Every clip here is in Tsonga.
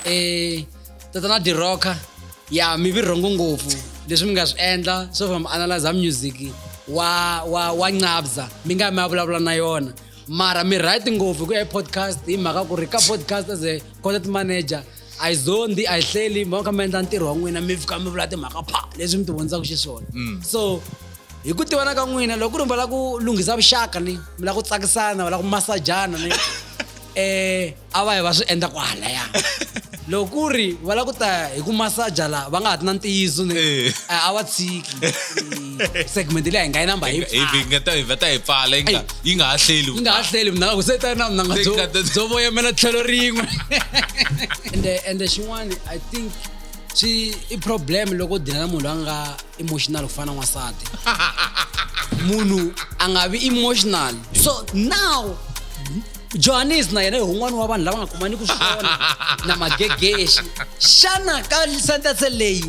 eh tatana dirocker ya mi vi rhongo ngopfu leswi mi nga swi endla so from analyzer music wa wa wa nqabza mi nga mi ya vulavula na yona mara mi right ngopfu ku ya hi podcast hi mhaka ku ri ka podcast as a content manager a yi zondi a yi hleli mi va kha mi endla ntirho wa n'wina mi fika mi vula timhaka pha leswi mi ti vondzaka xiswona mm. so hi ku tivana ka n'wina loko ku ri mi va lava ku lunghisa vuxaka ni mi lava ku tsakisana va lava ku masajana ni um a va yi va swi endla ku halaya loko ku ri va lava ku ta hi ku masaja laha va nga ha ti na ntiyiso ni eh. a va tshiki segment leyi a hi nga yi namba hi ngata hi vata hi pfala yi nga yi nga ha hleli yi nga ha hleli mina ku se ta na mina nga byo byo voyemela tlhelo rin'we and and xin'wana i think swi i problem loko dina na munhu a nga emotional ku fana n'wansati munhu a nga vi emotional so now johannes na yena hi un'wana wa vanhu lava nga kumaniki swona na magegexi xana ka sentence leyi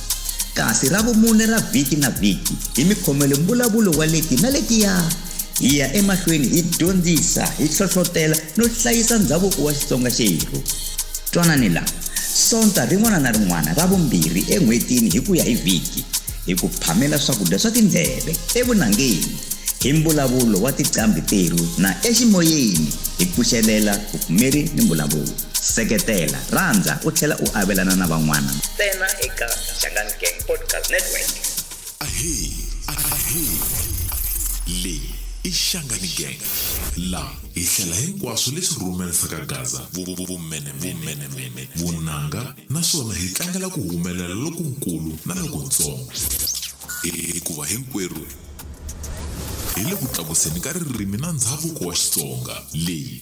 Kasi ra vumune ra vhiki na vhiki, hi mi khomele mbulavulo wa leti na letiya. Hi ya emahlweni hi dyondzisa, hi hlohlotela no hlayisa ndzhavuko wa Xitsonga xerhu. Twanani la, Sonta rin'wana na rin'wana ra vumbirhi en'hwetini hi ku ya hi vhiki, hi ku phamela swakudya swa tindleve evunangeni hi mbulavulo wa tiqambhi terhu na eximoyeni hi pfuxelela vupfumeri ni mbulavulo. Seketela, rhandza u tlhela u avelana na van'wana ntsena eka Xangani Gang Podcast Network. Ahee, ahee. Leyi i Xangani Gang. La hi hlela hinkwaswo leswi rhumerisaka Gaza, vumenemene, vunanga naswona hi tlangela ku humelela lokunkulu na lokuntsongo. Hikuva hinkwerhu hi le ku tlakuseni ka ririmi na ndhavuko wa Xitsonga. Leyi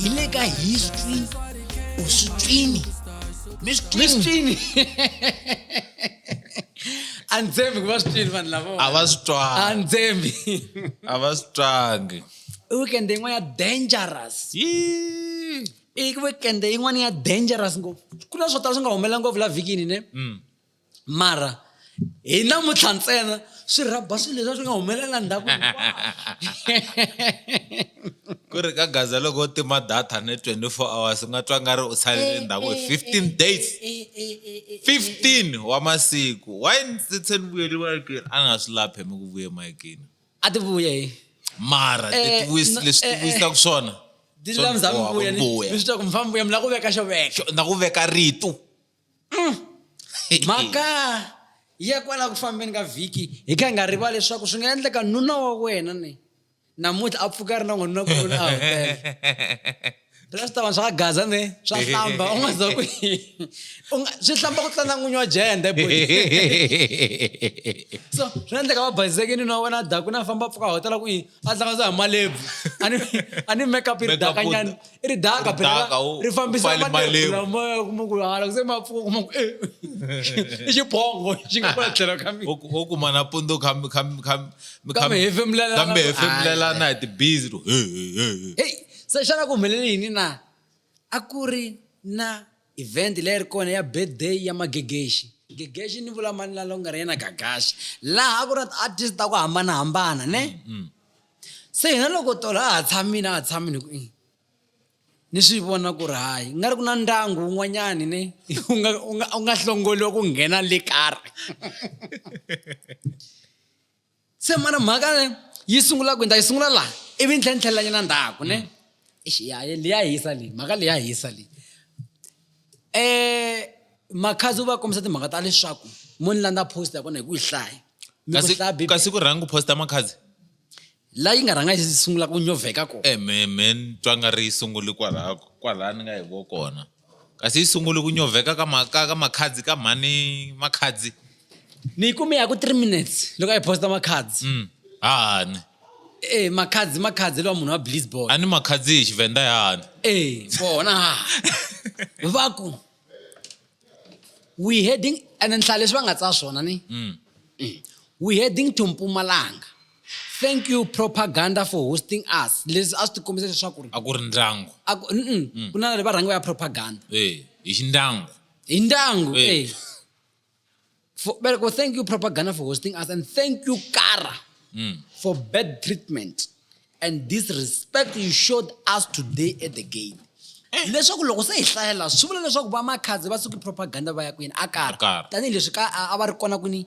hi le ka history or switswini mi switswini a ni tshembi ku va switswini vanhu lavo a va swi twanga a ni tshembi a va swi twangi i weekend yin'wana ya dangerous i weekend yin'wana ya dangerous ngopfu ku na swo tala swi nga humelela ngopfu la vhikini ne mm. mara hi namuntlha ntsena swi rhaba swilo leswi swi nga humelela ndhaku ku ri ka gaza loko u tima data ni 24 hours u nga twa nga ri u salele eh, ndhaku hi 15 eh, eh, days 15 wa masiku why ndzi tshe ni vuyeli mayikini a ni nga swi laphe mi ku vuye mayikini a ti vuye hi mara leswi ti vuyisaka swona dilulamisami vuya ni swi twa ku mfambi vuya mi la ku veka xo veka na ku veka rito mm. mhaka ya kwala ku fambeni ka vhiki hi ka hi nga riva leswaku swi nga endleka nuna wa wena ni namuntlha a pfuka ri na n'wanuna kuloni a hotela leswi swi ta va swa gaza ni swa hlamba u nga za ku swi hlamba ku tlana n'winyi wa jende bo so swi endleka va baseke nuna wa wena daku na famba pfuka hotela ku yini a hlanganisa hi malebvu a ni a ni makeup i ri Makeup daka u- nyana i ri daka ri phela daka, u- ri fambisa u fale malebvu malebvu. lamoya u kuma ku hala se mapfuka u kuma ku eh, i xibongo xi nga kwala tlhelo ka mina wo kuma na pundu kambe Kambe hefemulelana. kambe hefemulelana hi tibizi ro, "Hey, hey, hey, hey." heyi se xana ku humelele yini na a ku ri na Event leyi ri kona ya birthday ya Magegexi. Gegexi ni vula mani la longer yena Gagaxi. Laha ku na ti artist ta ku hambanahambana ne. Se hina loko tolo a ha tshamini a ha tshamini hi ku ni swi vona ku ri hayi nga ri ku na ndyangu wun'wanyani ne u nga u nga u nga hlongoriwa ku nghena le ka re se mara mhaka ne yi sungula ku ta yi sungula laha ivi ni tlhela ni tlhelela nyana ndzhaku ne xiyaye leya hisa leyi mhaka leya hisa leyi um makhazi u va kombisa timhaka ta leswaku mo ni landza post ya kona hi ku yi hlaya kasi ku rhangi ku posta makhazi la yi nga rhanga yi sungula ku nyovheka kona ememe eh, ni twa nga ri yi sunguli kwalako kwalani nga hi vo kona kasi yi sungule ku nyovheka ka ma- ka ka makhadzi ka mhani makhadzi ni yi kume ya ku three minutes loko a yi posta makhadzi Mm. hahani e makhadzi makhadzi lowa munhu wa blisbol a ni makhadzi hi xivenda yahani e vona ha va ku we heading ene nhlayo leswi va nga tsaya swona ni Mm. we heading to mpumalanga thank you propaganda for hosting us leswi a swi ti kombisa leswaku ri a ku ri ndyangu mm. ku na va rhangi va ya propaganda eh, hi xindyangu hi ndyangu eh. eh. for, well, thank you propaganda for hosting us and thank you kara mm. for bad treatment and disrespect you showed us today at the gate eh. leswaku loko se hi hlayela swi vula leswaku vamakhadzi va suki propaganda va ya kwini a kara tanihileswi a va ri kona kwini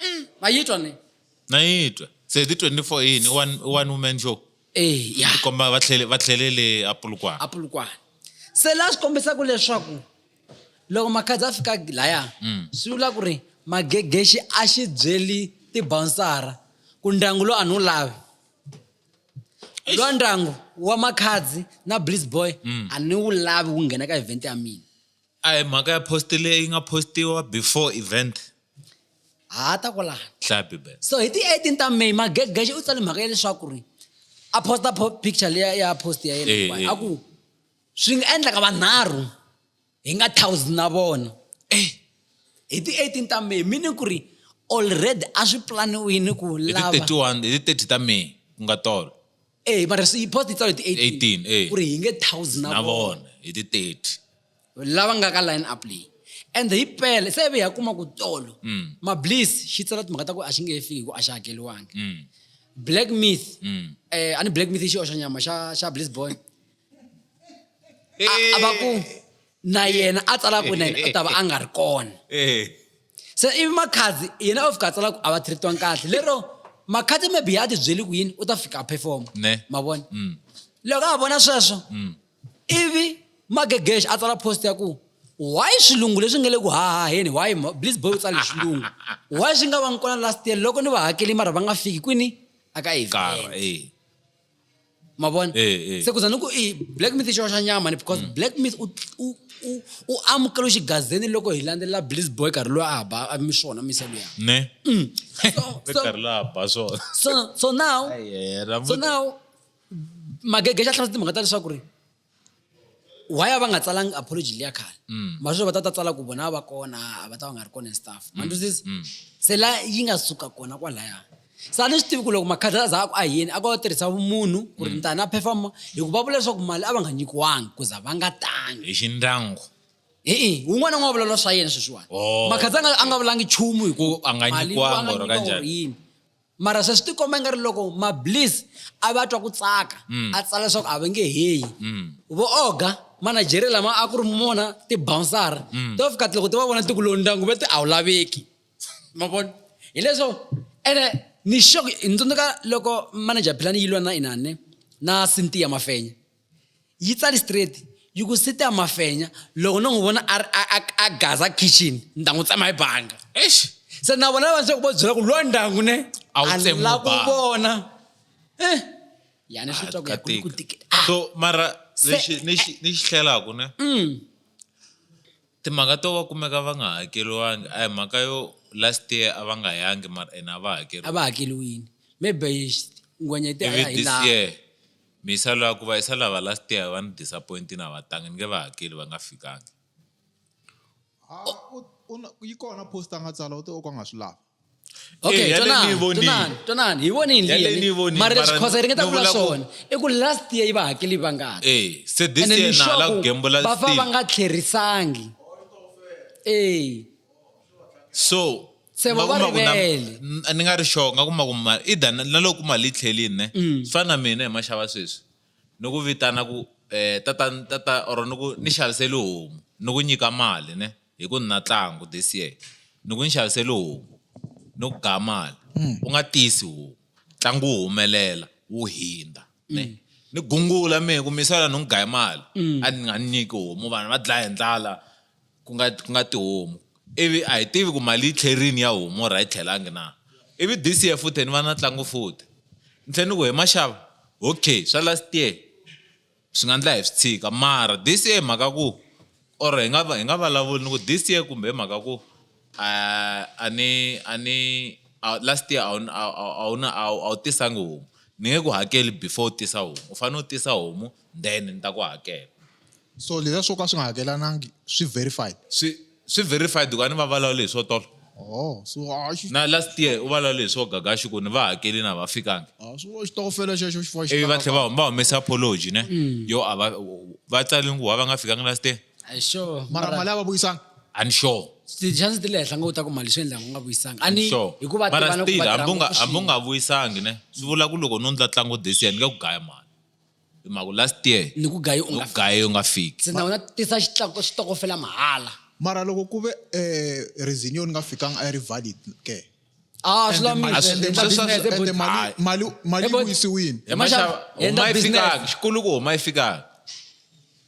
mm, mayitwa ne nayitwa se ti 24 yini one woman show eh ya komba va tlhele va tlhelele apulukwana apulukwana se la swi kombisaka leswaku loko makhadzi a fika laya mm. swi vula ku ri magegexi a xi byeli tibonsara ku ndyangu lowu a ni wu lavi lowa ndyangu wa makhadzi na bliss boy mm. a ni wu lavi wu nghena ka event ya mina A hi mhaka ya post leyi nga postiwa before event ha ta ko laha hlaya bibele so hi ti-18 ta may magegexi u tsale mhaka ya leswaku ri a posta picture leya ya post ya yena eh, eh. a ku swi nga endlaka vanharhu hi nga thousand na vona eh. hi ti-18 ta may mini ku ri already a swi planiwini ku lava hi ti-31 ta may ku nga tolo Eh, mara swi- post yi tsala hi ti 18, 18 eh. ku ri hi nge thousand na na vona vona hi ti 30 lava nga ka line up leyi and hi pele se ve ya kuma ku tolo Mm. mablis xi tsala timhaka ta ku a xi nge he fiki hi ku a xi hakeriwangi Mm, black myth mm. eh a ni black myth i xioxanyama xa xa bliss boy a va ku na yena a tsala ku na yena u ta va a nga ri kona se ivi makhadzi yena o fika a tsala ku a va treatiwanga kahle lero makhadzi maybe ya ti byeli ku yini u ta fika a performa ma vona mm. loko a vona sweswo mm. ivi magegexe a tsala post ya ku why swilungu leswi nga le ku hahaheni why bliz boy u tsale xilungu why swi nga va ngi kona last year loko ni va hakeli mara va nga fiki kwini a ka event mavona eh, eh. se kuza ni ku i black myth xo xa nyama ni because mm. black myth u amukela xigazeni loko hi landzelela bliss boy karhi loyi a ba mi swona mise luya ne mm. karhi la ba swona so so now so now magege xa tlhela timhaka ta leswaku ri why a va nga tsalangi apology leya khale mm. masweswi va ta ta tsala ku vona va kona a va ta va nga ri kona and stuff mm. manduzisi mm. se la yi nga suka kona kwalaya se a ni swi tivi ku loko makhadla za a ku a yini a ku va tirhisa vumunhu ku ri ntani a phefama hi ku va vula leswaku mali a va nga nyikiwangi ku za va nga tangi hi xindyangu e-e wun'wana n'wi wa vulavula swa yena sweswiwani oh. makhadza a nga vulangi nchumu hi ku a nga nyikiwangi or kanjani mara sweswi ti komba nga ri loko mablis a va twa ku tsaka mm. a tsala leswaku a va nge heyi mm. vooga manajeri lama a ku ri mona tibounsara mm. to fika loko ti va vona tiku lowu ndyangu va ti a wu laveki ma vona hileswo ene ni xo hi tsundzuka loko manager philani yi lwa na inani na sintiya mafenya yi tsali straight yi ku site ya mafenya loko no n'wi vona a ri a gaza kitchen ni ta n'wi tsema hi banga eish se na vona lava se ku va byela ku lwa ndyangu ne a wu tsemiwa ku vona eh yani swi twa ku ku tikela ah. so mara lexi ni xi ni xi hlelaku ne mm. timhaka to va kumeka va nga hakeriwangi a hi mhaka yo last year a va nga yangi mara ena a va hakeriwa a va hakeriwini maybe ngwenyete a ya hi laha Me i sa lava ku va i sa lava last year va ni disappointini a va tangi ni nge va hakeli va nga fikangi yi kona post a nga tsala u te o ka nga swi lava okay eh, tonani tonani tonani hi voni hi ndliyeni mara leswi khosa hi ringeta ku vula swona i ku last year yi va hakeli va ngani eh se this year na la ku gembula va fa va nga tlherisangi eh so se vo va rivele ni nga ri sure nga kuma ku mali i da na loko mali yi tlhelini ne mm. swi fana na mina hi maxava sweswi ni ku vitana ku um tata tata or ni ku ni xaviseli homu ni ku nyika mali ne hi ku ni na tlangu this year ni ku ni xaviseli homu ni ku gaya mali mm. u nga tisi homu tlangu wu humelela wu hindza ne mm. ni gungula mehe ku misala ni n'wi gaye mali a ni nga ni nyiki homu vanhu va dlaya hi ndlala ku nga ku nga tihomu ivi a hi tivi ku mali yi tlherini ya homu or a yi tlhelangi na ivi this year futhi ni va na ntlangu futhi ni tlhela ni ku he maxava okay swa last year swi nga endla hi swi tshika mara this year hi mhaka ku or hi nga hi nga vulavuli ni ku this year kumbe hi mhaka ku A a ni a ni a last year a wu a a a wu na a wu a wu tisanga homu ni nge ku hakeli before u tisa homu u fanele u tisa homu then ni ta ku hakela so leswiya swo ka swi nga hakelanangi swi verified swi swi verified ku a ni va vulavuli hi swo tolo oh so a xi na last year u vulavule hi swo gaga xi ku ni va hakelini a va fikangi a swi vula xitokofela xexo xi fa xi ivi va tlhela va huma va humesa apology ne yo a va va tsalini ku why va nga fikangi last year a hi sure mara mara- mali a va vuyisanga and sure ti-chance ti le henhla ngo u ta ku mali swi endlanga u nga vuyisanga ani sure hikuva mara tivana ku still va hambi u nga- tirha hambi u ngopfu nga vuyisangi ne swi vula ku loko no ndla tlangu this year ni nge ku gaya mali hi mhaku last year swin'we. ni ku gayi u nga u gaye u nga fiki se na wena tisa xitlaku- xitokofela mahala mara loko ku ve um resinio ni nga fikanga a yi ri valid ke a swi And mali- and the- sweswo- and the lamile mali- Hayi. mali- mali Eh, yi but- vuyisiwile Hi maxava- Hi ma huma yi business. fikanga xikulu ku huma yi fikanga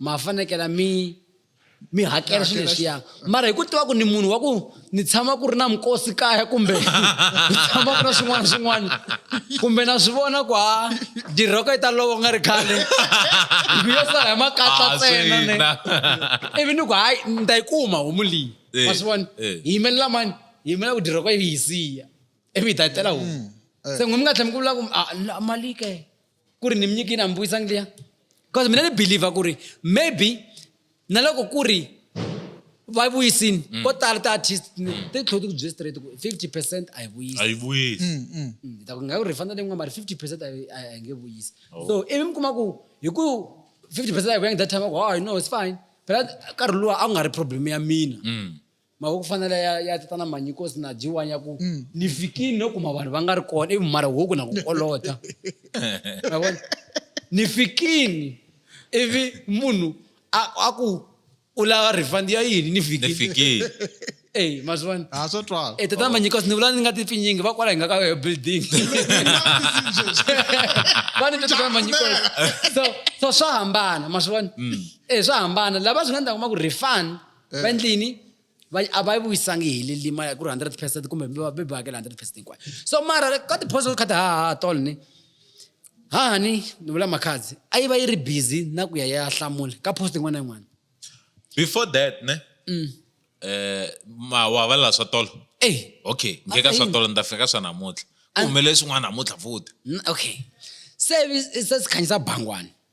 ma fanekela mi mi hakela swilo leswiya mara hi ku tiva ku ni munhu wa ku ni tshama ku ri na minkosi kaya kumbe ni tshama ku na swin'wana swin'wana kumbe na swi vona ku ha dirhoko yi ta lovo nga ri khale ku yo sala hi makatla ah, tsena ne ivi ni ku hayi ni ta yi kuma homu leyi eh, ma swi vona eh. hi yimelela mani hi yimela ku dirhoko yi hi siya ivi hi ta yi tela homu mm, eh. se n'wi mi nga tlhela mi ku vula ku ah, mali ke ku ri ni mi nyikini a mi vuyisangi liya because mina ni believer ku ri maybe na loko ku ri va vuyisini mm. ko tala ti-artist mm. ti tlhela ti ku bye straight ku fifty percent a yi vuyisi a yi vuyisi mm, ta ku nga ku ri fana leyi n'wana mari fifty percent a yi nge vuyisi oh. so ivi mi kuma ku hi ku fifty percent a yi vuyangi that time ku hayi no it's fine phela nkarhi luwa a ku nga ri problem ya mina mhaka ku fanele ya ya ta na manyikosi na jiwa ya ku mm. ni fikini no kuma vanhu va nga ri kona ivi mara huku na ku kolota mavona ni fikini ivi munhu a ku u lava refund ya yini ni fikini eyi mazwani ha swo twala e tata manyikosi ni vula ni nga titwi nyingi va kwala hi nga ka yoyo building va ni tata manyikosi so so swa hambana mazwani e swa hambana lava swi nga ni ta kuma ku refund eh. va endlini a va vuyisangi hi lilima ku ri hundred percent kumbe va be ba hakela hundred percent hinkwayo so mara ka tiphoso kha ti hahaha tolo ni haha ni ni vula makhadzi a yi va yi ri busy na ku ya ya hlamula ka post yin'wana na yin'wana before that ne mm. eh mawa va la swa tolo eh okay ngeka swa tolo ni ta fika swa namuntlha kumele swin'wana namuntlha futhi okay se se sikhanyisa bangwana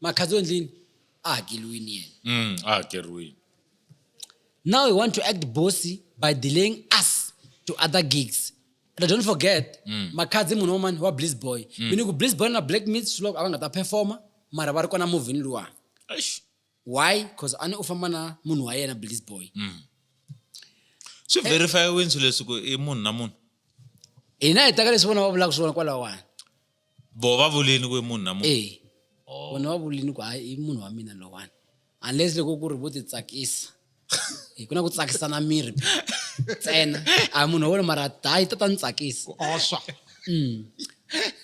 makhadzi endlini a hakeliwini yena mm, a hakeriwini now you want to act bossy by delaying us to other gigs but don't forget mm. makhadzi munhu wamani wa bliss boy mm. meaning ku bliss boy na black meat swiloko a va nga ta performa mara va ri kona movhini luwani why because a ni u famba na munhu wa yena bliss boy mm. swi verifyiwini swileswi ku i munhu na munhu hina hi taka leswi vona va vulaka swona kwalawani vo va vulini ku i munhu na munhu e vona va vulini ku hayi i munhu wa mina lowani unless loko ku ri vo titsakisa hi ku na ku tsakisana miri ntsena a munhu wa wena mara dayi ta ta ni tsakisa oswa mm.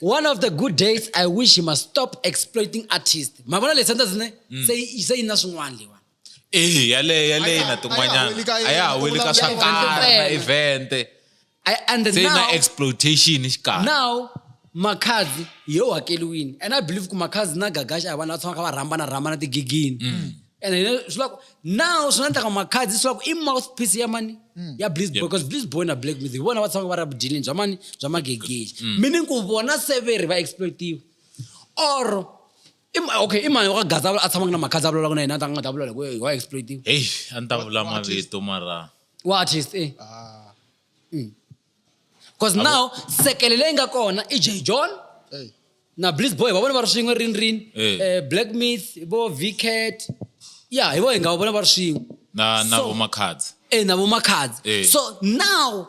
one of the good days i wish he must stop exploiting artist ma vona leswi endla sine mm. se yi na swin'wana leyiwani Eh, yaleyo yaleyo na tin'wanyana a ya ha weli ka swa karhi na event and se na exploitation xikarhi now makhadzi hi yo hakeliwini and i believe ku makhadzi na gagaxa a vanhu va tshamaka va rhambana rhambana tigigini mm. and swi lava now swi nga endlaka makhadzi swi lava ku i mouth piece ya mani mm. ya blizboy because blizboy na black music vona va tshamaka va ri abudilini bya mani bya magegexi mm. meaning ku vona severi va exploitiwa or I ma- okay i mani wa ka gaza a tshamaka na makhadza a vulavulaka na yena a ta nga ta vulavula hi ku wa exploiting heyi a ni ta vula mavito mara wa artist eh Ah, because now sekele leyi nga kona i j john hey. na bliss boy va vona va ri swin'we rini rini Eh. eh, black myth vo vcat ya hi vo hi nga va vona va ri swin'we na na So- vomakhadzi e na vomakhadzi Eh. so now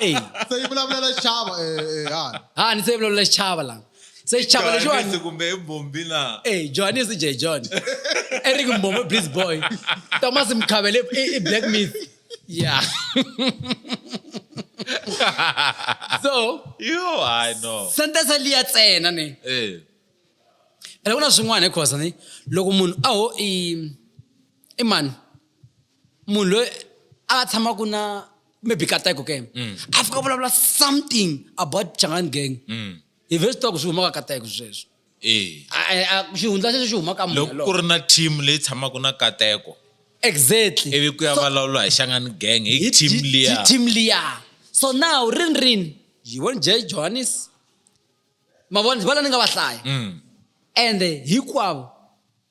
Ey, se yi vulavulela xichava eh, eh, hala ha ni se vulavula xichava la se xichava Johannes lexiwani kumbe i mbombi na Hey, Johannes J. John. Eric Mbomo, Blitz Boy. Thomas Mkhabele, i, i Black Myth. Yeah. so, yo i know sentence liya tsena ni. eh Ene ku na swin'wana hi khosa ni. Loko munhu a ho i i mani. munhu loyi a va tshamaka na maybe kateko ke mm. a fika vulavula something about changani gang mm. hi ve swi tiva ku swi humaka kateko sweswo eh. xihundla xexo xi humaka munhu ku ri na team leyi tshamaka na kateko exactly ivi ku ya vulavula hi xangani gang hi team liya team liya so now rin rin yi won j johannes mavona va la ni nga va hlaya mm. ende hinkwavo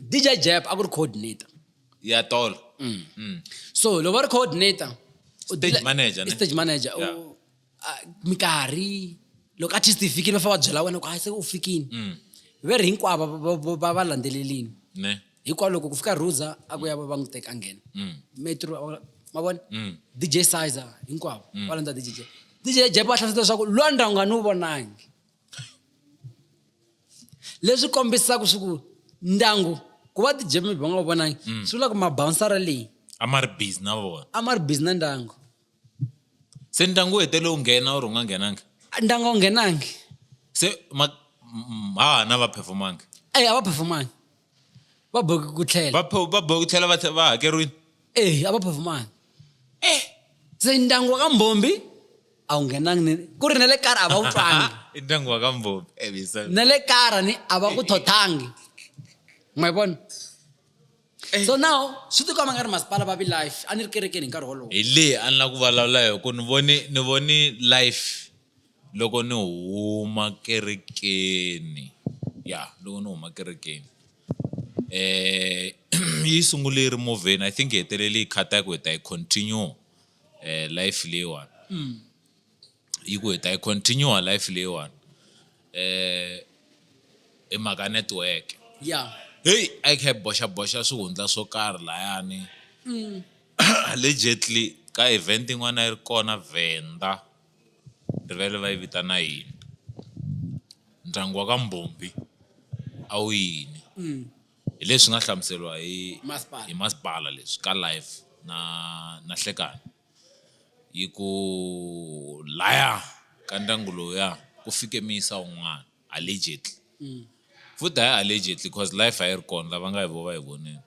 dj jap a ku ri coordinator ya tolo mm. Mm. so loko va ri coordinator stage manager ne stage manager yeah. u mikarhi loko artist yi fikile va fa va byela wena ku hayi se u fikile mm. ve ri hinkwavo va va landzelelini ne hikwalaho loko ku fika ruza a ku ya va va n'wi teka nghena mm. metro ma vona mm. dj sizer hinkwavo va landza dj dj jap va hlamusela leswaku lwandra u nga ni wu vonangi leswi kombisaka swi ku ndyangu ku va tijemi va nga vonangi mm. swi vula ku mabawunsara leyi a ma ri busy na vona a ma ri busy na ndyangu se ndyangu wu hetele wu nghena or u nga nghenangi ndyangu a wu nghenangi se ma ha na va performangi eyi a va performangi va boheke ku tlhela va pho- va bohe ku tlhela va tlhe- va hakeriwile eyi a va performanga Eh. se ndyangu wa ka mbhombi a wu nghenangi ni ku ri na le kara a va wu twangi i ndyangu wa ka mbhombi Eh, bisa. na le kara ni a va ku thothangi ma yi vona Eh. so now swi tikomba nga ri masipala va vi life a ni ri kerekeni hi nkarhi wolowo hi leyi a ni la ku vulavula hi ku ni voni ni voni life Loko ni huma kerekeni ya loko ni huma kerekeni yi sungule yi ri movheni I think yi hetelele yi khata ku hi ta yi continue life leyiwani yi ku hi ta yi continue life leyiwani hi mhaka network ya heyi a yi kha yi boxaboxa swihundla swo karhi layani allegedly ka event yin'wana a yi ri kona Venda. rivele va yi vitana yini ndyangu wa ka Mbhombhi a wu yini mm. hi leswi nga hlamuseriwa hi hi masipala leswi ka life na na hlekani yi ku laya ka ndyangu lowuya ku fike miyisa un'wana allegedly mm. futhi hayi allegedly because life a yi ri kona lava nga hi vo va hi vonile um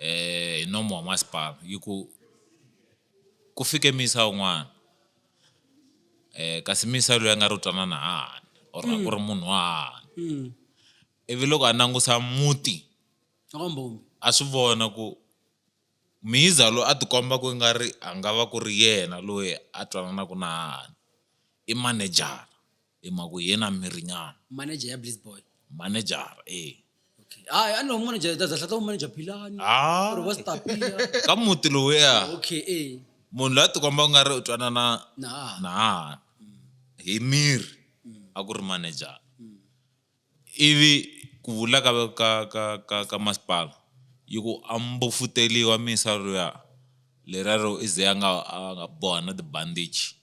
hi nomo wa masipala yi ku Ku fike muyisa un'wana um kasi muyisa loyi a nga ri u twanana hahani or a ku ri munhu wa hahani ivi loko a langusa muti a swi vona ku miyiza loyi a tikomba ku nga ri a nga va ku ri yena loyi a twananaku na hahani i manejara. Hi mhaka ku hi yena mirinyana. Manager ya Blitz Boy. Manager-a e. Okay. Hayi a ni lowu manager ta zahlata wu manager Philani. Ah. Or was Tapia. Ka muti lowuya. Okay e. Munhu la tikomba u nga ri u twanana na na hi miri a ku ri manager. I vi ku vula ka ka ka ka ka masipala yi ku a mbofuteriwa misa luya lera ro i ze a nga a nga boha na ti-bandage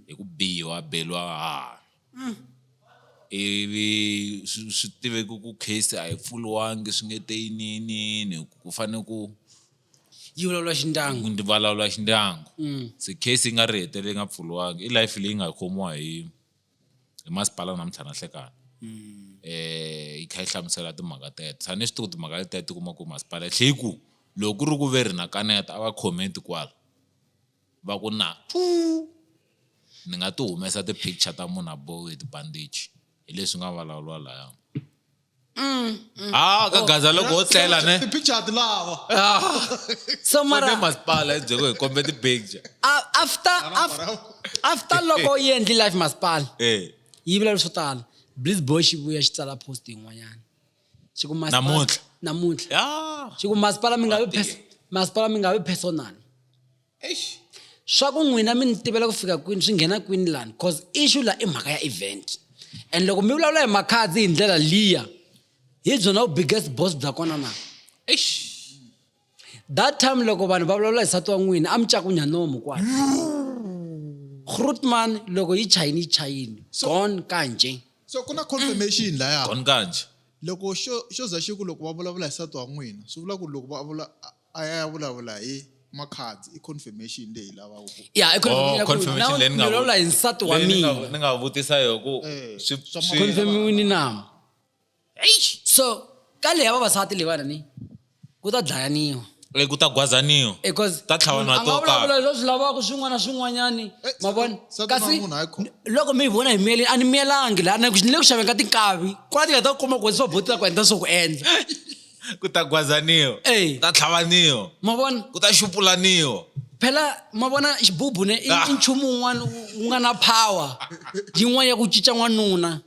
hi ku biwa beriwa hahani ivi swi swi tiveka ku case a yi pfuriwanga swi nge te yiniyiniyini hi ku ku fanele ku yi vulavula xi ndyangu ku vulavula xi ndyangu se case yi nga ri hetelela yi nga pfuriwanga i life leyi nga khomiwa hi. hi masipala namuntlha na hlekani um yi kha yi hlamusela timhaka teto tshani ni swi tiku timhaka leteto ti kuma ku masipala tlhe yi ku loko ku ri ku ve ri na kaneta a va comment kwala va ku na ni nga ti humesa ti-picture ta munhu a bohiwe hi ti-bandage hi leswi nga vulavuriwa laya. ha ka gaza loko ho tlela ne ti-picture lava so mara mara masipala hi byeko hi kombe ti-picture a- after af- after loko yi endli life masipala eh yi vula leswo tala bliz boy xi vuya xi tsala post yin'wanyana xi ku masipala- Namuntlha. namuntlha ya xi ku masipala mi nga vi Matiko. pers- masipala mi nga vi personal swa ku n'wina mi ni tivela ku fika kwini swi nghena kwini lani cause issue la i mhaka ya event and loko mi vulavula hi makhadzi hi ndlela liya hi byona vubiggest boss bya kona na eish that time loko vanhu va vulavula hi sati wa n'wina a mi cakunya nomu kwala grootman loko yi chayini yi chayini gone kanje so ku na confirmation laya gone kanje loko xo xo za xi ku loko va vulavula hi sati wa n'wina swi vula ku loko va vula a ya ya vulavula hi makhadzi i confirmation leyi hi lavaka ku ya i confirmation Oh, ya ku confirmation now leyi ni nga ni vulavula vu- hi nsati wa Leyi ni nga- mina ni nga vutisa yo ku Eh, swi- swa swi- confirmiwini na so ka leyi ya vavasati leyiwana ni ku ta dlayaniwa eh, ku ta gwazaniwa because Ta tlhavanwa munhu a to nga vulavula karhi. leswi swi lavaka swin'wana na swin'wanyani Eh, ma vona se ku na kasi munhu hayi khona. loko mi yi vona hi miyeleni a ni miyelangi laha ni le ku xaveni ka tinkavi kwala ti nga ta kuma ku swa botila ku endla swo ku endla ku ta gwazaniwa ku ta tlhavaniwa ma vona ku ta xupulaniwa phela ma vona xibubu ne i ah. nchumu wun'wana wu nga na power yin'wana ya ku cinca n'wanuna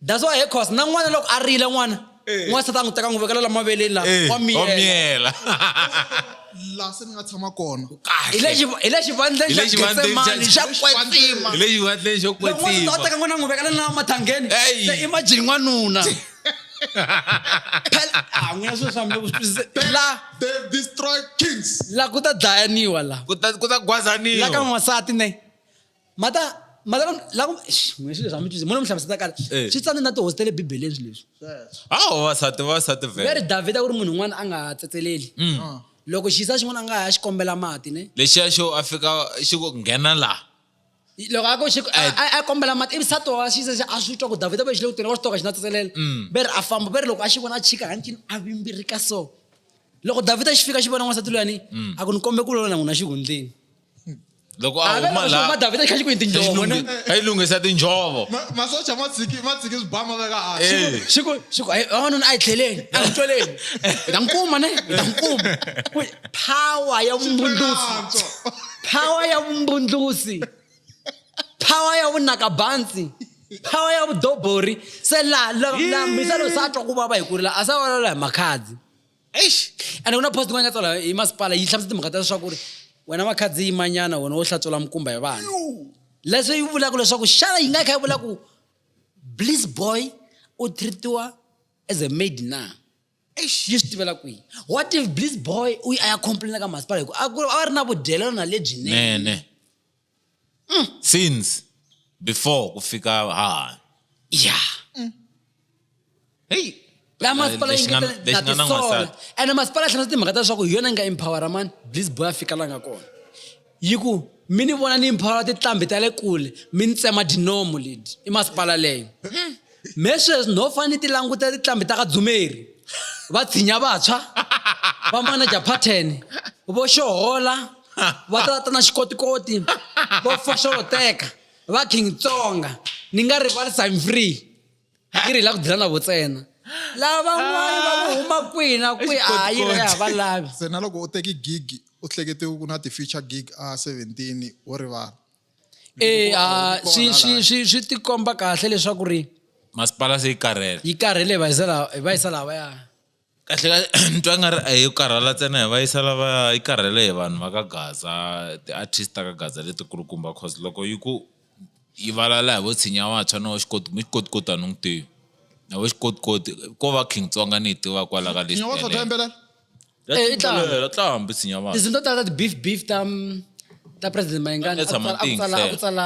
that's why hey cause na n'wana loko a rila n'wana eh. n'wana sata n'wi teka n'wi vekela la maveleni la eh, wa miyela laha se ni nga tshama kona hi le xivandleni xa getsemani xa kwetsima hi le xivandleni xo kwetsima teka n'wana n'wi vekela na mathangeni se i majini n'wanuna Ah, n'wina swilo swa mina ku swi twisise- la They've destroyed kings. la ku ta dlayaniwa la ku ta ku ta la ka gwazaniwa n'wansati ne mata mata la ku Eish, n'wina swilo swa mi twisise mona mi hlamuseta kale Eh. swi tsane na tihosi ta le bibeleni swilo leswi hawa vavasati vavasati vele veri davhida ku ri munhu un'wana a nga ha tsetseleli Mm. loko xiyisa xin'wana a nga ha ya xi kombela mati ne lexiya xo a fika xi ku nghena laha loko a ko xi a kombela mati ivi sati wa xisa xa a swi twa ku davhida va xi le ku tweni wa swi toka xi na tsetselela mm. ve ri a famba ve ri loko a xi vona a chika hancini a vimbirika so loko davhida xi fika xi vona n'wansati loyani mm. a ku ni kombe ku lona n'wina xihundleni loko a huma laha davhida xi kha xi ku yi tinjhovo ne a yi lunghisa tinjhovo masocha ma tshiki ma tshiki swibama veka hansi xi ku xi ku vavanuna a yi tlheleni a yi toleni hi ta n'wi kuma ne hi ta n'wi kuma power ya vumundzuku power ya vumbundlusi power ya vunakabansi power ya vudobori se laha lambisa loyi se a twa ku vava hi ku rila a sa valala hi makhadzi eish ende ku na post yin'wana nga tsala hi masipala yi hlamusa timhaka ta leswaku ri wena makhadzi yimanyana wena wo hlatsola mukumba hi vana leswi yi vulaka leswaku xana yi nga kha yi vula ku bliss boy u treatiwa as a maid na eish yi swi tivela kwihi what if bliss boy u yi a ya complaina ka masipala hi ku a ku a va ri na vudyelelana lebyinene nene Mm. since before ku fika hahani ya heyi laha masipala yi Lexi nga- ngetele lexi na nga na tisola n'wansati. ene masipala a tlhela timhaka ta leswaku hi yona yi nga empowera mani bliss boy a fika la nga kona yi ku mi ni vona ni mphora titlambi ta le kule mi ni tsema dinomo leti i masipala leyo hmm. me sweswi no fane ti languta titlambi ta ka dzumeri va tshinya vantshwa va manaja pattern vo xohola va tata na xikotikoti vo foxoloteka va king tsonga ni nga rivali sign free yi ri hi la ku dyela na vo tsena lavan'wana va ku huma kwihi na kwihi a yi ri ya va lavi se na loko u teki gig u hlekete ku na ti-future gig a seventeen wo rivala e a swi swi swi swi tikomba kahle leswaku ri masipala se yi karhele yi karhele hi va yisa laha hi va yisa laha va ya kahle kahle ni twa nga ri a hi karhala ntsena hi va yisa lava yi karhele hi vanhu va ka gaza ti-artist ta ka gaza letikulukumba cause loko yi ku yi valala hi vo tshinya wantshwa na wa xikoti mi xikotikoti a ni n'wi tivi na vo xikotikoti ko va king tsonga ni yi tiva kwala ka list yaleyo Eh, i tlanga. Yaleyo, tlanga hambi tshinya wantshwa tinsimu to tala ta ti-beef beef ta ta president mayingani Vanessa a ku tsala- a ku tsala- a ku Matinhle. tsala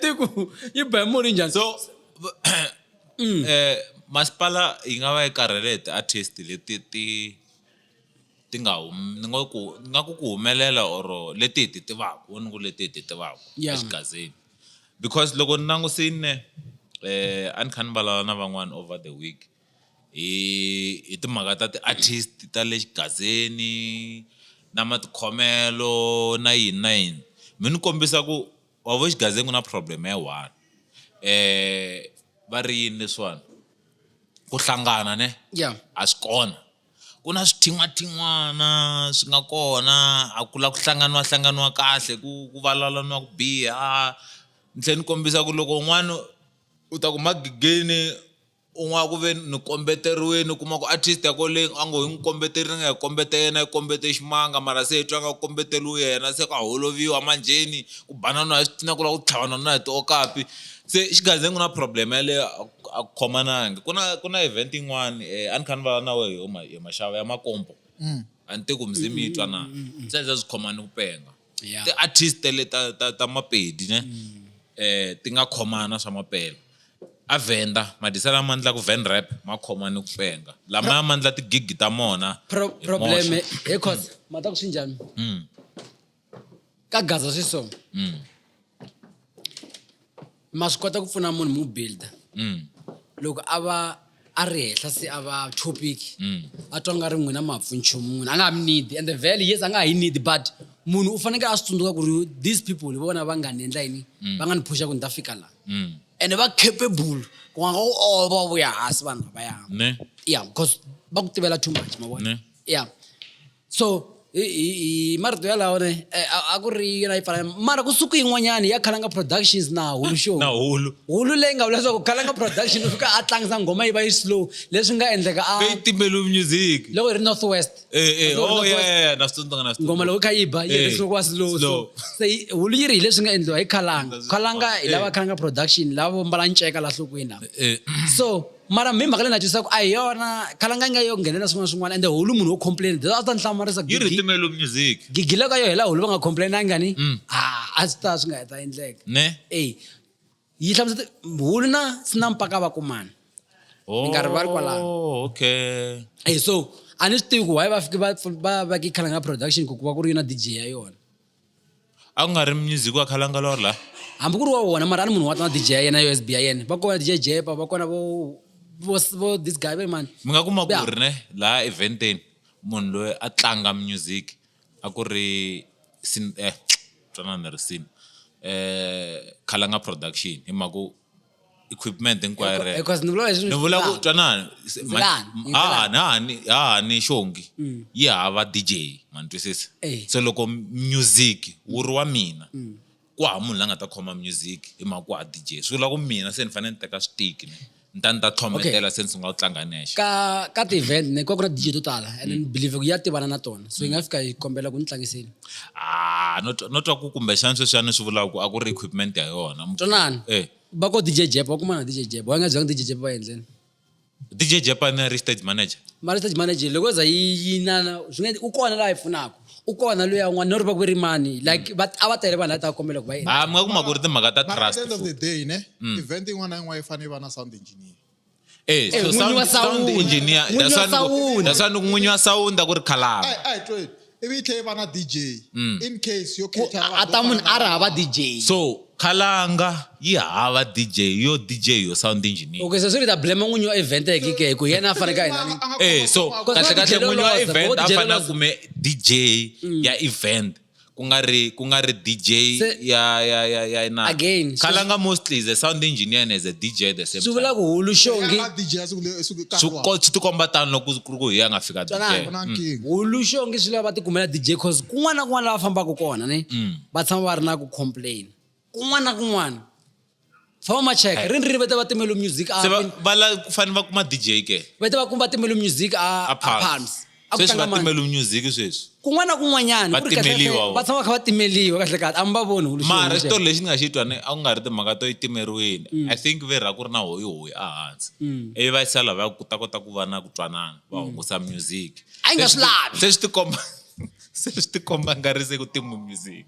tiko yi ba muli njhani so mm. eh masipala yi nga va yi karhele ti artist leti ti ti nga humi ni nga ku nga ku ku humelela or leti hi ti tivaka ni ku leti hi ti tivaka exigazini because loko ni langusine eh a ni kha ni vulavula na van'wana over the week hi hi timhaka ta ti-artist ta le xigazeni na matikhomelo na yini na yini mi ni kombisa ku wa vo xigazini ku na problem ya one va ri yini leswiwani ku hlangana ne ya a swi kona ku na swithin'wathin'wana swi nga kona a ku la ku hlanganiwa hlanganiwa kahle ku ku vulavulaniwa ku biha ni tlhe ni kombisa ku loko un'wani u ta ku magegeni. u nga ku ve ni kombeteriwini u kuma ku artist ya kwale a ngo hi n'wi kombeterile ni nga yi kombeta yena yi kombete ximanga mara se hi twa nga kombeteriwe yena se ka holoviwa manjheni ku banana hi switina ku lava ku tlhavana na hi tiokapi se exigazenga ku na problem yaleyo a ku a ku khomanangi ku na ku na event yin'wani a ni kha ni vulavula na wehe yo ma yo maxava ya makompo a ni te ku muzimi yi twa na se a yi za swi khomani ku penga. yeah. ti-artist tele ta, ta, ta mapedi ne mm. eh ti nga khomana swa mapela a venda madisa lama endla ku van rap ma khoma ni ku penga lama ya mandla tigigi ta mona problem he cause ma ta ku swi njhani mm. ka gaza swi so mm. ma swi kota ku pfuna munhu mu builda mm. loko a va a ri henhla se a va topic mm. a twa nga ri n'wina mapfu nchumu munhu a nga ha mi need and the value yes a nga ha yi need but munhu u fanekele a swi tsundzuka ku ri these people hi vona va nga ni endla yini mm. va nga ni phusha ku ni ta fika laha mm. ene va capable ku nga ku olova oh, vuya hansi vanhu lavaya ya because va ku tivela too much mavona ya so hi, hi, hi marito yalawo ne eh, a- a ku ri yona yi pfala mara ku suku yin'wanyani ya khalanga productions na hulu show na hulu hulu leyi nga vula leswaku khalanga production u fika a tlangisa nghoma yi va yi slow leswi nga endleka a leyi timbelu music loko hi ri north west Eh, eh, Loko oh, hi ri North yeah, West, yeah, yeah, na swi tsundzuka, na swi ngoma tsundzuka. loko kha yi ba yi Eh, ri slow slow. slow se yi- hulu yi ri hi leswi nga endliwa hi khalanga That's khalanga hi lava Eh. khalanga production lava vo mbala nceka la nhlokweni lava Eh, so mara mi mhaka leyi na twisaka a hi yona khalanga yi nga yo nghenelela swin'wana swin'wana ende hulu munhu wo complain a swi ta ni hlamarisa yi ritimelo music gigile ka yo hela hulu va nga complainanga ni mm. a swi ta swi nga heta endleka ne e yi hlamusete hulu na sina mpaka va kumana oh, nkarhi va ri kwalano okay e so a ni swi tivi ku why va fike va va veke khalanga production ku ku va ku ri yona dj ya yona a ku nga ri music wa khalangalor la hambi ku ri wa wona mara a ni munhu wa tana dj ya yena yo sb ya yena va kona dj jepa va kona vo vo this guy ve mani mi nga kuma ku ri ne laha eventeni munhu loyi a tlanga music a ku ri sin eh twanana ni ri sin eh khalanga production hi mhaka ku equipment hinkwayo rero because ni vula leswi ni vula ku twanana se- ma- Zilani, m- yi ha ha- zilani. ha ha ni- ha ha ni xongi yi hava dj ma ni twisisa Mm. Eh. Mm. se loko music wu ri wa mina ku ha munhu la nga ta khoma music hi mhaka ku ha dj swi vula ku mina se ni fanele ni teka switiki ni ni ta ni ta tlhometela se ni sungula ku tlanga nexe ka ka ti-event ne ku va ku na dj to tala and ni believe ku ya tivana na tona so yi nga fika yi kombela ku ni tlangiseni ah no twa- no twa ku kumbexana sweswiyani swi vulaka ku a ku ri equipment ya yona Mu- twanani eh va ko dj jep va kumana na dj jep va nga byanga dj jep va endleni dj japan a ri stage manager mara stage manager loko za yi yi nana swi nga u kona laha yi pfunaka u kona loyi yan'wana no ri va ku ri mani like va a va tele vanhu lava ta kombela ku va endla ah mi nga kuma ku ri timhaka ta But at trust the end of futhi. the day ne event yin'wana na yin'wana yi fanele yi va na sound engineer Eh, so n'winyi sound- wa sound sound. engineer, N'winyi that's wa why ni ku- sound. that's why ni ku n'winyi wa sound a ku ri khalanga Ai, ai, tweni. ivi yi tlhela yi va na dj Mm. in case yo Ku- cater a ta munhu a ri hava dj so khalanga yi hava dj yo dj yo sound engineer okay so swi ri ta blame n'winyi wa event eke ke hi ku yena a faneke a hi nani eh so Because kahle what kahle did n'winyi wa Loloza? event What a did fanele a Loloza? kume dj ya event ku nga ri ku nga ri DJ Se- ya ya ya ya na Again, so- Khalanga mostly is a sound engineer and as a DJ at the same swi time vula ku hulu xongi Ya DJ siku le- siku nkarhi swi wa- ko- swi tikomba tano loko ku ri ku hi ya nga fika DJ Twanani. ku na nkingha. hulu xongi swi lava va tikumela dj cause kun'wana na kun'wana la va fambaka kona ni va tshama va ri na ku complain kun'wana na kun'wana tshama ma cheka ri ni ri va ta va timelo music a se va pin- va la ku fanele va kuma dj ke va ta va kuma timelo music a a a palms palms a ku sweswi tlanga va mani timelo music sweswi kun'wana na kun'wanyana Va ku ri kahle- timeliwa kahle, vo. va tshama va kha va timeliwa kahle kahle a mi va voni hulu mara xin'we xitori lexi ni nga xi twa ni a ku nga ri timhaka to yi timeriweni i think ve ra ku ri na hoyihoyi ehansi ivi va yisa lava ku ta kota ku va na ku twanana va hungusa music A yi nga Se swi lavi. se swi tikomba se swi tikomba nga ri se ku timbe music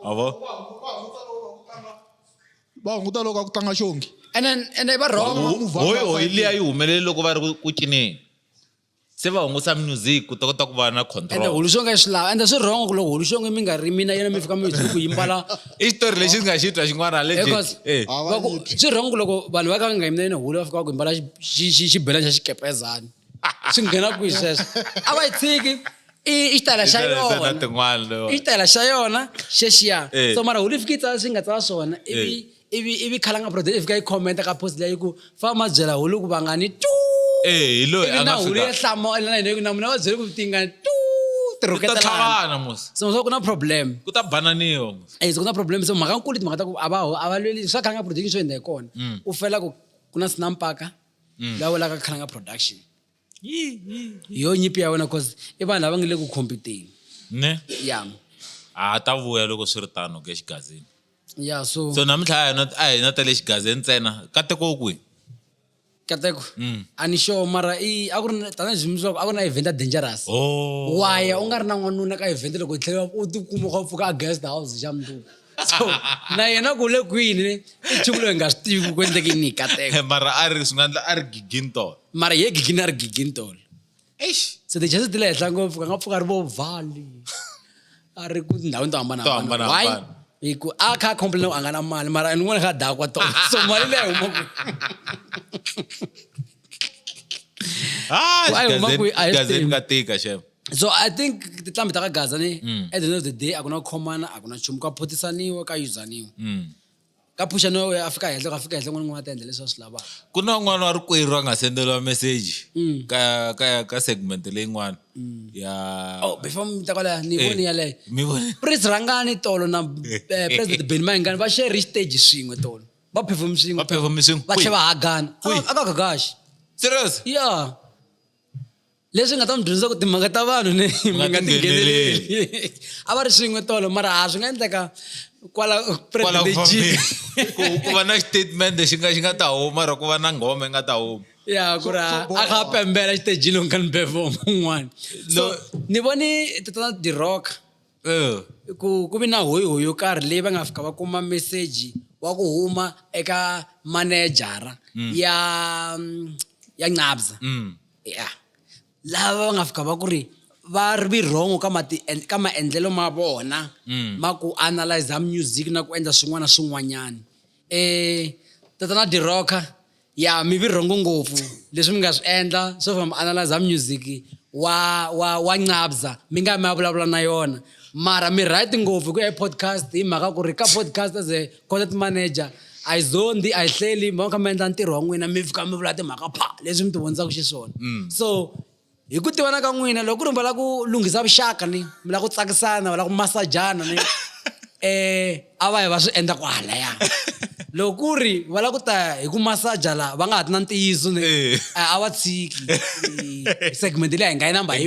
a vo va hunguta loko a ku tlanga xongi and then and then va wrong va move on, hoyi va hoyi fake. liya yi humelele loko va ri ku- ku cineni se va hungusa music ku ta kota ku va na ende control hulu xonga yi swi lava ende swi wrong ku loko hulu xonga mi nga ri mina yena mi fika mi zi ku yimbala i xitori lexi ndzi nga xi twa xin'wana legit because Eh, Ah, va va ku- yiphi. swi wrong ku loko vanhu va ka va nga yimina yena hulu va fika va ku yimbala xi- xi- xi- xibelani xa xikepezani swi nghena kwihi sweswo a va yi tshiki i ta la xa yona i ta la xa yona xexiya eh. so mara holy fiki tsala swi nga tsala swona eh. ivi ivi ivi khalanga brother i fika yi commenta ka post leyi ku fa ma byela holy ku vangani tu eh, ivi na holy ya hlamala na yini ku na mina va byele ku tingani tu tirhuketelana so so ku na problem ku ta bananiwa eh so ku na problem so mhaka nkulu timhaka ta ku a va a va lweli swa khalanga production swi endla hi kona mm. u fela ku ku na sinampaka mm. la vulaka khalanga production yo nyipi ya wena cause i vanhu lava nga le ku competeni ne ya a ta vuya loko swi ri tano ke xigazini ya so so namuntlha a hi na a hi na ta le xigazini ntsena kateko kwihi kateko Mm. a ni sure mara i a ku ri na- tanihi swi leswaku a ku ri na event ya dangerous oh waya u nga ri na n'wanuna ka event loko hi tlhela u tikuma u kha u pfuka a guest house xa mundzuku so na yena ku le kwini i nchumu loyi hi nga swi tivi ku ku endleke yini hi kateko Eh, mara a ri swi nga endla a ri gigintol mara ye gigini a ri gigini tolo eish se tichese ti le henhla ngopfu ka nga pfuka a ri vo vhali a ri ku tindhawini to To hambanahambana hambanahambana. Why? hi ku a kha a complain a nga na mali mara ni n'wana kha a dakwa tolo so mali leyi a huma kwihi? Ah, Why, xigazeni- Umakwe, a hi swi xigazeni tivi. ka tika xefe so i think titlambi ta ka gaza ni mm. at the end of the day a ku na ku khomana a ku na nchumu ka phothisaniwa ka yuzaniwa mm. ka phuxa no a fika henhla ka fika henhla n'wana n'wana ta endla leswi va swi lavaka ku na n'wana wa rikwerhu a nga sendeliwa meseji mm. ka ka ka segment leyin'wana mm. ya oh before mi ta kwalaya ni voni eh, yaleyo mi voni prince rhangani tolo na eh, president ben mayingani va share stage swin'we tolo va perform swin'we va perform swin'we va tlhe va hagana a ka gagaxi serious yeah leswi nga ta n'wi dyondzisa ku timhaka ta vanhu ni mi nga tingheneleli a va ri swin'we tolo mara a swi nga endleka kwala ku va na statement xi nga xi nga ta huma mara ku va na nghoma yi nga ta huma ya ku ri a kha a pembela xitejini u nga ni befo mun'wana so ni voni tatana dirock uh. ku ku vi na hoyihoyi yo karhi leyi va nga fika va kuma meseji wa ku huma eka manejara mm. ya mm, ya nqabza mm. ya lava va nga fika va ku ri va ri vi wrong ka mati ka maendlelo ma vona mm. ma ku analyza music na ku endla swin'wana na swin'wanyana um tatana dirocker ya mi vi rhongo ngopfu leswi mi nga swi endla swo famba analyzer music wa wa wa ncabza mi nga mi ya vulavula na yona mara mi right ngopfu ku ya podcast hi mhaka ku ri ka podcast as a content manager a yi zondi a yi hleli mi va kha mi endla ntirho wa n'wina mi fika mi vula timhaka pha leswi mi ti vonisaka xiswona mm. so hi ku tivana ka n'wina loko ku ri mi lava ku lunghisa vuxaka ni mi lava ku tsakisana va lava ku masajana ni um a va yi va swi endla kwalaya loko ku ri va lava ku ta hi ku masaja laha va nga ha ti na ntiyiso ni a va tshiki segment leyi a hi nga yi namba hi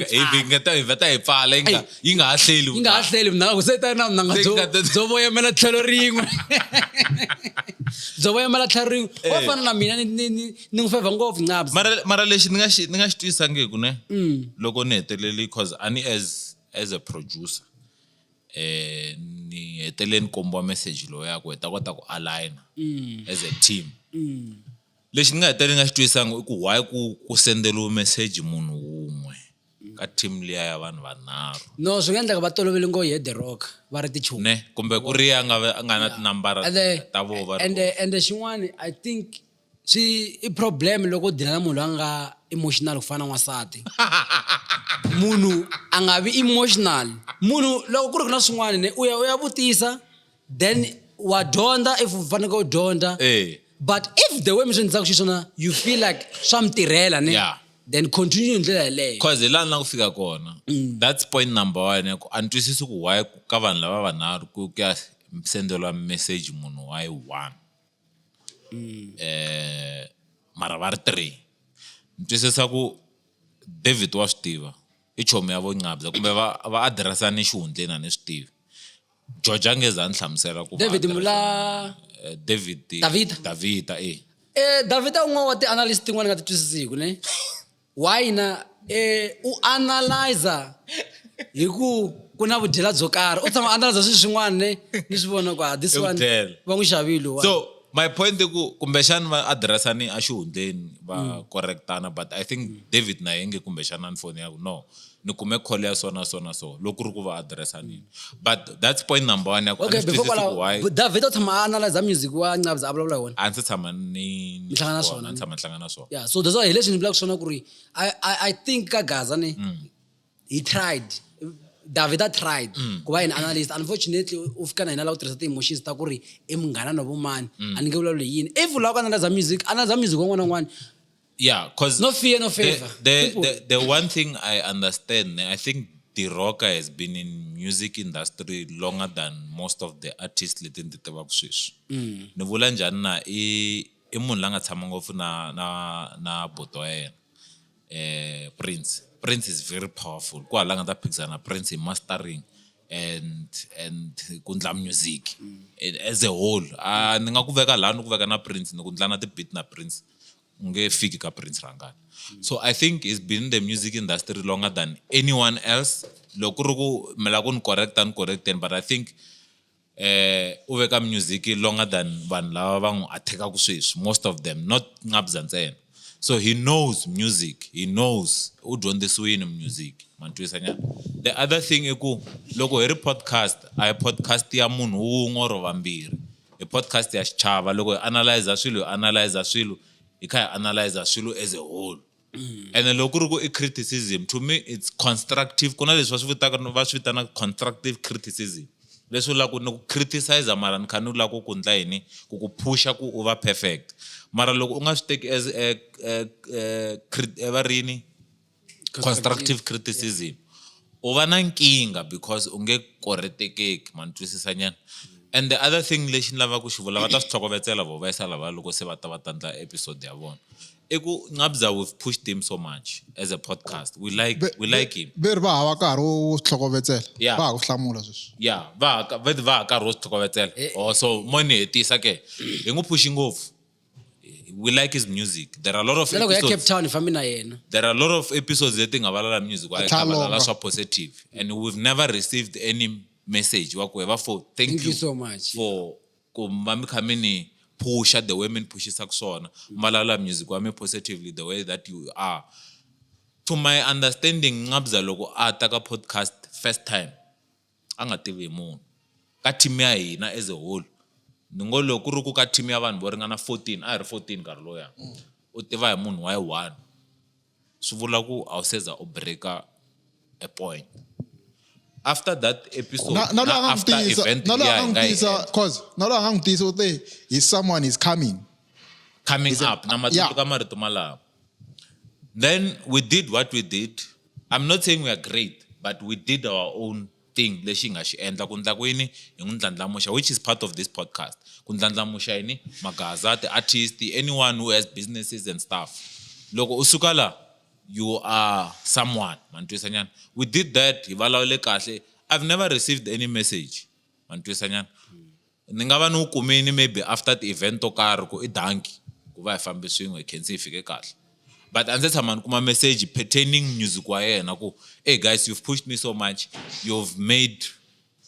va ta hi pfala yi nga yi nga ha hleli yi nga ha hleli vunanga ku se ta na vunanga byo byo voyamela tlhelo rin'we byo voyamela tlhelo rin'we wa fana na mina ni ni ni ni n'wi fevha ngopfu ncabs mara mara lexi ni nga xi ni nga xi twisangiku ne Mm. loko ni heteleli cause a ni as as a producer eh ni hetelele ni kombiwa message lowu ya ku hi ta kota ku aligna Mm. as a team Mm. lexi ni nga hetelele ni nga xi twisanga i ku why ku ku sendeliwe message munhu wun'we ka team liya ya vanhu vanharhu no swi nga endleka va tolovele ngo ye the rock va ri tichumi ne kumbe ku ri ya nga ve- a nga na tinambara ende ta vona va ri ende ende xin'wani i think swi i problem loko u dila na munhu loyi a nga emotional ku fana na n'wansati munhu a nga vi emotional munhu loko ku ri ku na swin'wana ne u ya u ya vutisa then wa dyondza if u faneke u dyondza eh. but if the way mi swi endlaka xiswona you feel like swa mi tirhela ne yeah then continue ndlela yeleyo cause hi laha ni la ku fika kona mm. that's point number one ya ku a ni twisisi ku why ka vanhu lava vanharhu ku ya sendeliwa message munhu wa yi one mara va ri three. Ni twisisa ku David wa swi tiva, i chomi ya vo Nqambhi kumbe va va address-ana exihundleni a ni swi tivi. George a nge za a ni hlamusela ku David Mula David Davida Davida e. Davida i un'wana wa ti-analyst tin'wana ni nga ti twisisiku ne. wa hina eh, u analyza hi ku ku na vudyela byo karhi u tshama analyza swilo swin'wana ne ni swi vona ku ah, this I one vudyela. va n'wi xavile wa so my point i ku kumbexani va adiressani a xihundleni va correctana but i think david na yenge kumbexani a ni foni yaku no ni kume call ya so na so na so loko ku ri ku va addressa nini but that's point number one ya ku a okay ni swi before twisisi ku why kwalaho david u tshama a analyza music wa ncabza a vulavula hi wona a ndzi tshama ni ni Mi hlangana swona, swona, a ndzi tshama ni hlangana swona yeah so that's why hi leswi ni vulaka swona ku ri I, I, i think ka gaza ni Mm. he tried david a tried Mm. ku va yini analyst unfortunately u fika na hina la u tirhisa ti-emotions ta ku ri i munghana na vumani Mm. a ni nge vulavuli hi yini if u lava ku analyza music analyza music wa n'wana na n'wana Yeah, because no fear, no favor. The, the, the, the, one thing I understand, I think the rocker has been in music industry longer than most of the artists leti ndzi tivaka sweswi mm. ni vula njhani na i i munhu la nga tshama ngopfu na na na boto ya yena eh prince prince is very powerful ku hala nga ta phikizana prince hi mastering and and ku ndla music mm. as a whole a ni nga ku veka laha ni ku veka na prince ni ku ndla na ti-beat na prince ungefiki ka prince rangani so i think he's been in the music industry longer than anyone else loko ku ri ku mila ku ni correcta ni correcteni but i think eh u veka music longer than vanhu lava va n'wi attackaka sweswi most of them not nqabza ntsena so he knows music he knows u dyondzisiwini music mantwisa nyana the other thing i ku loko hi ri podcast a hi podcast ya munhu wun'we or vambirhi e podcast ya xichava loko hi analyzer swilo hi analyzer swilo hi kha hi analyzer swilo as a whole mm. and loko ku ri ku i criticism to me it's constructive ku na leswi va swi vitaka va swi vitanaka constructive criticism leswi u lava ku ni ku criticizer mara ni kha ni lava ku ku ndla yini ku ku phusha ku u va perfect mara loko u nga swi teki as eh, eh, eh, va rini constructive criticism u va na nkingha because u nge koretekeki ma ni twisisa nyana and the other thing lexi ni lavaka ku xi vula va ta swi tlhokovetsela vo va yisa lava loko se va ta va ta ndla episode ya vona i ku nqabza we've pushed him so much as a podcast we like we like him veri va hava nkarhi wo swi tlhokovetsela Yeah. va ha ku hlamula sweswi ya va ha ka- va va ha karhi wo swi tlhokovetsela oh so mo ni hetisa ke hi n'wi phuxi ngopfu we like his music there are a lot of loko ya cape episodes, town fambi na yena there are a lot of episodes leti nga valala music wa Atalonga. khavalala swa positive and we've never received any message wa ku heva for thank, Thank you so much. for ku va mi kha mi ni phusha the way mi ni phuxisaka swona mi valala music wa mi positively the way that you are to my understanding nqabza loko a ta ka podcast first time a nga tivi hi munhu ka team ya hina as a whole ni ngo loko ku ri ku ka team ya vanhu vo ringana fourteen a hi ri fourteen nkarhi loya u tiva hi munhu wa yi one swi vula ku a wu se za u breaker a point after that episode na na loyi a nga n'wi tiyisa na loyi a nga n'wi tiyisa cause na loyi a nga n'wi tiyisa u te hi someone is coming coming up na matiko ka marito malawo Then we did what we did. I'm not saying we are great, but we did our own thing lexi hi nga xi endla ku ndla ku yini hi n'wi ndlandlamuxa which is part of this podcast ku ndlandlamuxa yini magaza ti-artist anyone who has businesses and stuff loko u suka la you are someone mantwisanyana we did that hi vulavule kahle i've never received any message mantwisanyana Ni nga va ni wu kumini maybe after ti-event to karhi ku i danki ku va hi fambe swin'we hi khense hi fike kahle but a ndzi tshama ni kuma message pertaining music wa yena ku hey guys you've pushed me so much you've made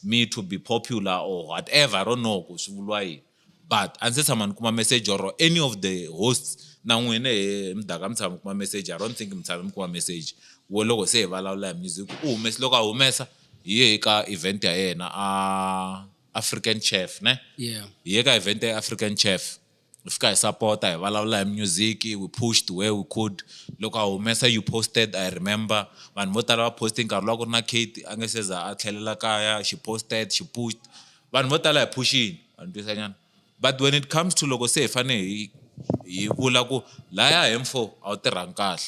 me to be popular or whatever i don't know ku swi vuriwa yini but a ndzi tshama ni kuma message or any of the hosts na n'wina he mudaka mi tshama mi kuma message i don't think mi tshama mi kuma message wo loko se hi vulavula hi music u humese loko a humesa hi ye ka event ya yena a african chef ne yeah. hi ye ka event ya african chef hi fika hi sapota hi vulavula hi music we pushed where we could loko a humesa you posted i remember vanhu vo tala va poste nkarhi lowa ku ri na kate a nge seza a tlhelela kaya she posted she pushed vanhu vo tala hi phuxini andwisanyana but when it comes to loko se hi fanele hi hi vula ku laya hemfo a wu tirhangi kahle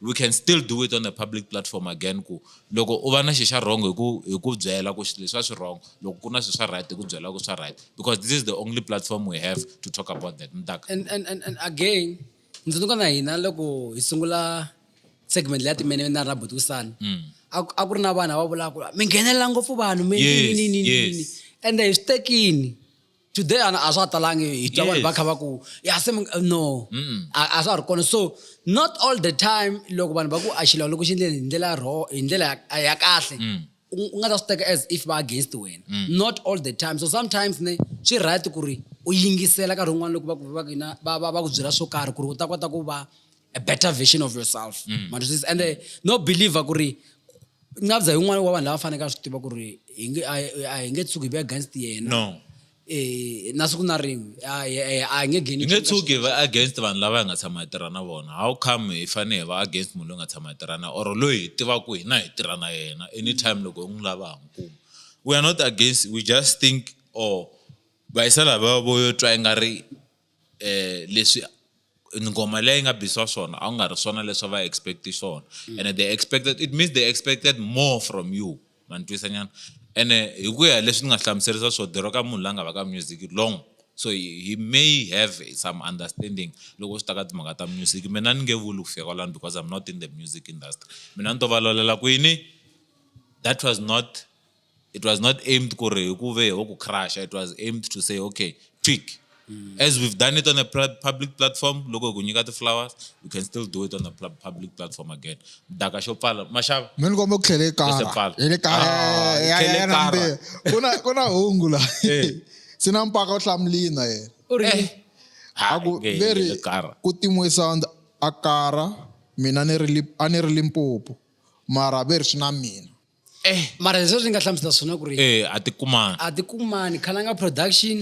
we can still do it on a public platform again ku loko u va na xi xa wrong hi ku hi ku byela ku leswi a swi wrong loko ku na swi swa right hi ku byela ku swa right because this is the only platform we have to talk about that mtaka and, and, and, and again ndzinduka na hina loko hi sungula segment leya timene na ra butisana mm. a ku ri na vanhu va vulaka mi nghenelela ngopfu vanhu mi nini nini nini ende hi swi tekini today ana a swa ha talangi hi twa vanhu va kha va ku ya se no a swa ha ri kona so not all the time loko vanhu va ku a xilawula ku xi endleni hi ndlela ro hi ndlela ya kahle mm. u nga ta swi teka as if va against wena mm. not all the time so sometimes ne swi right ku ri u yingisela nkarhi wun'wana loko va ku va ku na va va va ku byela swo karhi ku ri u ta kota ku va a better version of yourself mm. matwisisa ende eh, no believer ku ri nabza hi un'wana wa vanhu lava faneke a swi tiva ku ri a hi nge tshuki hi ve against yena no eh, na siku na rin'we a hi nge geni nge tshuki va against vanhu lava hi nga tshama hi tirha na vona how come hi fanele hi va against munhu loyi nga tshama hi tirha na or loyi hi tivaku hina hi tirha na yena anytime loko hi n'wi lava ha n'wi kuma we are not against we just think or oh, vayisela va vo yo twa i nga ri eh, leswi ngoma leyi nga bisiwa swona a ku nga ri swona leswi va expect swona mm. and they expected it means they expected more from you manitwisa nyana ene hi ku ya leswi ni nga hlamuserisa swo dero ka munhu la nga va ka music long so he may have some understanding loko swi ta ka timhaka ta music mina ni nge vuli ku fika kwalani because i'm not in the music industry mina ni to valolela ku yini that was not it was not aimed ku ri hi ku ve ho ku crusha it was aimed to say okay tweak mm. as we've done it on a public platform loko hi ku nyika ti-flowers we can still do it on a public platform again daka xo pfala maxava mi ni kombe ku tlhele kara hi le kara ku na ku na hungu la eh. swi na mpaka u hlamulini na yena u ri eh. a ku veri ku tin'we sound a kara mina ni ri a ni ri limpopo mara veri swi na mina eh mara leswi ni nga hlamusela swona ku ri eh a ti kumani a ti kumani khalanga production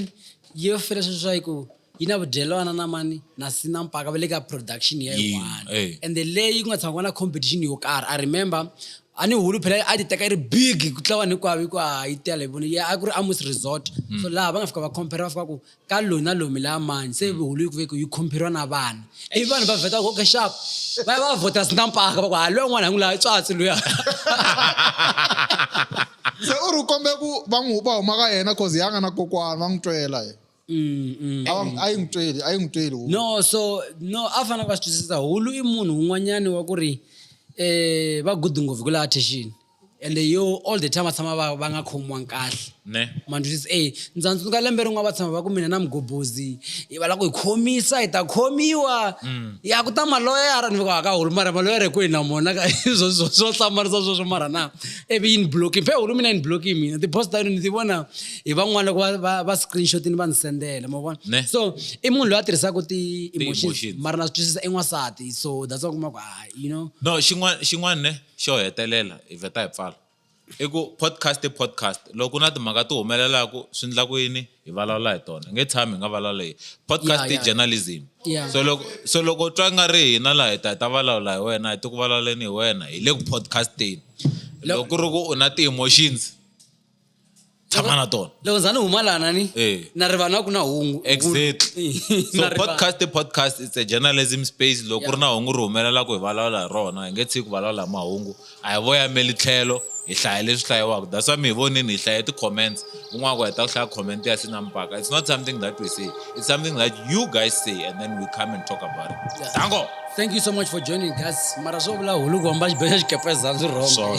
yi yo fela sweswi swa ku yi na vudyelwana na mani na sina mpaka va le ka production ya yin'wana eh. and the leyi ku nga tshama ku na competition yo karhi i remember a ni hulu phela a ti teka yi ri big ku tlula vanhu hinkwavo hikuva yi tele voni a ku ri amos resort hmm. so laha va nga fika va compare va fika ku ka lona lomi la mani se vihulu yi kuveke yi khomperiwa na vana ivi vanhu va vheta koke xap va ya va vhota sinampaka va ku ha loyi un'wana hi n'wi laha tswatsi luya se u ri kombe ku va n'wi va huma ka yena cause ya nga na kokwana va n'wi twela ye mm, mm, a mm. yi n'wi tweli a yi n'wi tweli no so no a fanele va swi twisisa hulu i munhu un'wanyani wa ku ri um va gudi ngopfu hi ku laha thexini ende yo all the time va tshama va va nga khomiwanga kahle ne mandwisi e ndza tsundzuka lembe rin'wana va tshama va ku mina na mugobozi hi va la ku hi khomisa hi ta khomiwa Mm. ya ku ta maloyara ni va ka hulu mara maloyara hi ku hi na mona ka swo swo swo hlamarisa sweswo mara na ivi yi ni blocking phe hulu mina yi ni blocking mina ti-post ta yona ni ti vona hi van'wana loko va- va va screenshot ni va ni sendela ma vona Ne. so i munhu loyi a tirhisaka ti-emotions Ti-emotions. mara na swi twisisa i n'wansati so that's why u kuma ku ah you know no xin'wana xin'wana ne Xo hetelela hi vheta hi pfala i ku podcast i podcast loko ku na timhaka ti humelelaka swi endla ku yini hi vulavula hi tona hi nge tshami hi nga vulavula hi podcast Yeah, i yeah. journalism Yeah. so loko so loko u twa nga ri hina laha hi ta hi ta vulavula hi wena hi ti ku vulavuleni hi wena hi le ku podcasteni loko ku ri ku u na ti-emotions tshama na tona loko za ni huma lana ni Eh. na rivala ku na hungu exactly so Na rivala. podcast the podcast it's a journalism space loko ku ri na hungu ri humelela ku hi vulavula hi rona hi nge tshiki ku vulavula hi mahungu a hi voyameli tlhelo hi hlaya leswi hlayiwaka that's why mi hi vonini hi hlaya ti-comments un'wana ku heta ku hlaya comment ya sina mpaka it's not something that we say it's something that you guys say and then we come and talk about it Yeah. dango thank you so much for joining guys mara swo vula hulu ku hamba xibedlha xikepezani swi wrong Swona.